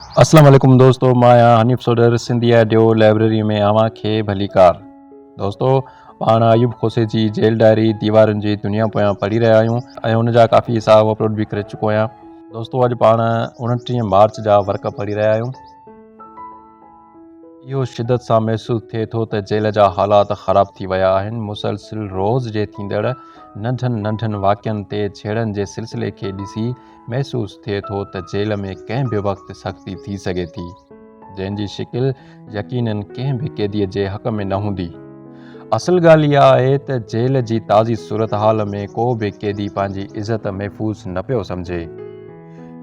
اسلام عليڪم دوستو مان آهيان حنيف سوڍر سنڌي آڊيو لائبريري ۾ اوهان کي ڀليڪار دوستو پاڻ ايوب کوسي جي جيل ڊائري ديوارن جي دنيا پويان پڙهي رهيا آهيون ۽ ان جا ڪافي حصا اپلوڊ به ڪري چڪو آهيان دوستو اڄ پاڻ انٽيهه مارچ جا ورق پڙهي رهيا آهيون اهو شدت سان محسوس ٿئي ٿو ته جيل جا حالات خراب ٿي ويا آهن مسلسل روز جي ٿيندڙ ننڍن ننڍن واقعن تي جھيڙن جي سلسلي کي ڏسي محسوس ٿئي ٿو ته جيل ۾ ڪنهن به وقت سختي ٿي سگهي ٿي، جنهن جي شڪل يقينن ڪنهن به قيديء جي حق ۾ نه هوندي. اصل ڳالهه اها آهي ته جيل جي تازي صورتحال ۾ ڪو به قيدي پنهنجي عزت محفوظ نه پيو سمجهي.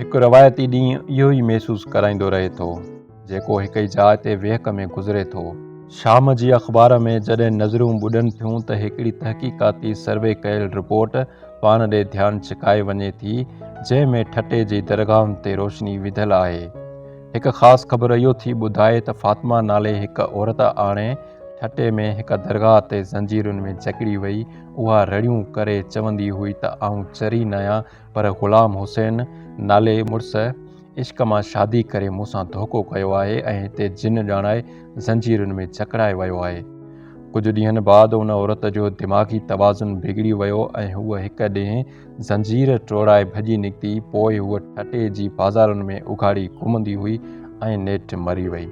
هڪ روايتي ڏينهن اهو ئي محسوس ڪرائيندو رهي ٿو. جيڪو هڪ ئي جاء تي ويهڪ ۾ گذري ٿو. شام جي اخبار ۾ جڏهن نظرون ٻڏن ٿيون ته هڪڙي تحقيقاتي سروي ڪيل رپورٽ پاڻ ڏي ڌيان ڇڪائي وڃي ٿي، جنهن ۾ ٺٽي جي درگاهن تي روشني وڌل آهي. هڪ خاص خبر اهو ٿي ٻڌائي ته فاطمه نالي هڪ عورت آڻي ٺٽي ۾ هڪ درگاهه تي زنجيرن ۾ جڪڙي وئي، اها رڙيون ڪري چوندي هئي ته آئون چري ناهيان، پر غلام حسين نالي مڙس عشق مان شادي ڪري مون سان ڌوڪو ڪيو آهي ۽ هتي جن ڄاڻائي زنجيرن ۾ جڪڙائي ويو آهي. ڪجهه ڏينهن بعد ان عورت جو دماغي توازن بگڙي ويو ۽ هوء هڪ ڏينهن زنجير ٽوڙائي ڀڄي نڪتي، پوء هوء ٺٽي جي بازارن ۾ اگهاڙي گهمندي هئي ۽ نيٺ مري وئي.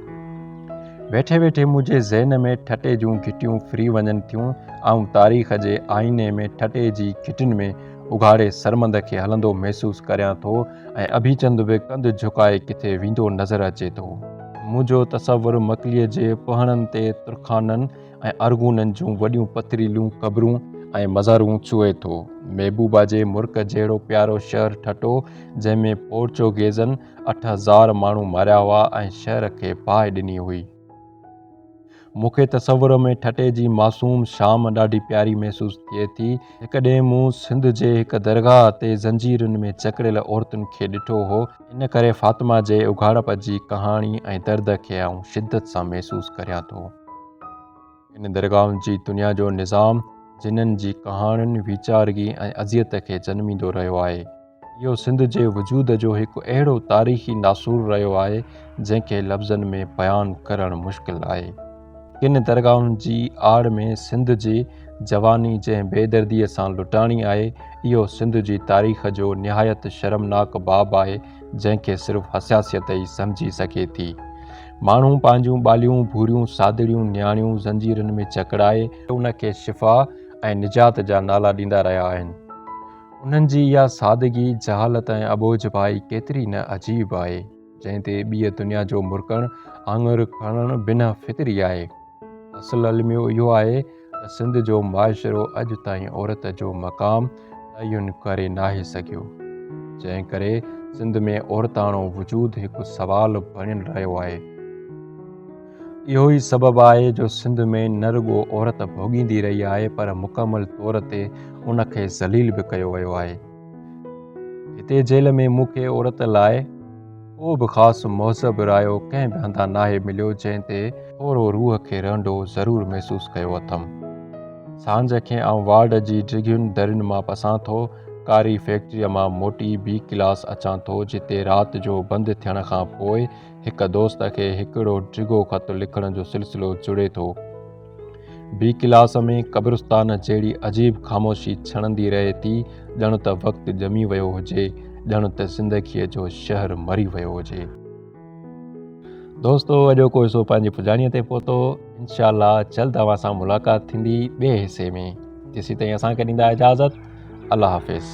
ويٺي ويٺي منهنجي ذهن ۾ ٺٽي جون گهٽيون ڦري وڃن ٿيون، آئون تاريخ جي آئيني ۾ ٺٽي جي گهٽين ۾ اگهاڙي سرمند کي هلندو محسوس ڪريان ٿو ۽ اڀيچند به ڪنڌ جهڪائي ڪٿي ويندو نظر اچي ٿو. منهنجو تصور مڪليء جي پهڻن تي ترخانن ۽ ارغونن جون وڏيون پٿريليون قبرون ۽ مزارون ڇهي ٿو. محبوبا جي مرڪ جهڙو پيارو شهر ٺٽو، جنهن ۾ پورچوگيزن اٺ هزار ماڻهو ماريا هئا ۽ شهر کي باهه ڏني هئي. مون کي تصور ۾ ٺٽي جي معصوم شام ڏاڍي پياري محسوس ٿئي ٿي. هڪ ڏينهن مون سنڌ جي هڪ درگاهه تي زنجيرن ۾ جڪڙيل عورتن کي ڏٺو هو، ان ڪري فاطمه جي اگهاڙپ جي ڪهاڻي ۽ درد کي آئون شدت سان محسوس ڪريان ٿو. ان درگاهن جي دنيا جو نظام جنن جي ڪهاڻين ويچارگي ۽ اذيت کي جنميندو رهيو آهي. اهو سنڌ جي وجود جو هڪ اهڙو تاريخي ناسور رهيو آهي جنهن کي لفظن ۾ بيان ڪرڻ مشڪل آهي. ڪن درگاهن جي آڙ ۾ سنڌ جي جواني جنهن بي دردي سان لٽاڻي آهي اهو سنڌ جي تاريخ جو نهايت شرمناڪ باب آهي جنهن کي صرف حساسيت ئي سمجهي سگهي ٿي. ماڻهو پنهنجون ٻاليون، ڀوريون، سادڙيون، نياڻيون زنجيرن ۾ جڪڙائي، ان کي شفا ۽ نجات جا نالا ڏيندا رهيا آهن انهن جي اها سادگي، جهالت ۽ اٻوجهڀائي ڪيتري نه عجيب آهي جنهن تي ٻيء دنيا جو مرڪڻ آڱر کڻڻ بنهه فطري آهي. اصل الميو اهو آهي ته سنڌ جو معاشرو اڄ تائين عورت جو مقام تعين ڪري ناهي سگهيو، جنهن ڪري سنڌ ۾ عورتاڻو وجود هڪ سوال بڻيل رهيو آهي. اهو ئي سبب آهي جو سنڌ ۾ نه رڳو عورت ڀوڳيندي رهي آهي پر مڪمل طور تي ان کي ذليل به ڪيو ويو آهي. هتي جيل ۾ مون کي عورت لاء ڪو به خاص مهذب رايو ڪنهن به هنڌان ناهي مليو جنهن تي ٿورو روح کي رهنڊو ضرور محسوس ڪيو اٿم. سانجهه کي آئون وارڊ جي ڊگهين درين مان پسان ٿو ڪاري فيڪٽريء مان موٽي بي ڪلاس اچان ٿو جتي رات جو بند ٿيڻ کان پوء هڪ دوست کي هڪڙو ڊگهو خط لکڻ جو سلسلو جڙي ٿو. بي ڪلاس ۾ قبرستان جهڙي عجيب خاموشي ڇڻندي رهي ٿي، ڄڻ ته وقت ڄمي ويو هجي، ڄڻ ته زندگيء جو شهر مري ويو هجي. دوستو اڄوڪو حصو پنهنجي پڄاڻيء تي پهتو، انشاء الله جلد اوهان سان ملاقات ٿيندي ٻئي حصي ۾، تيسين تائين اسان کي ڏيندا اجازت الله حافظ.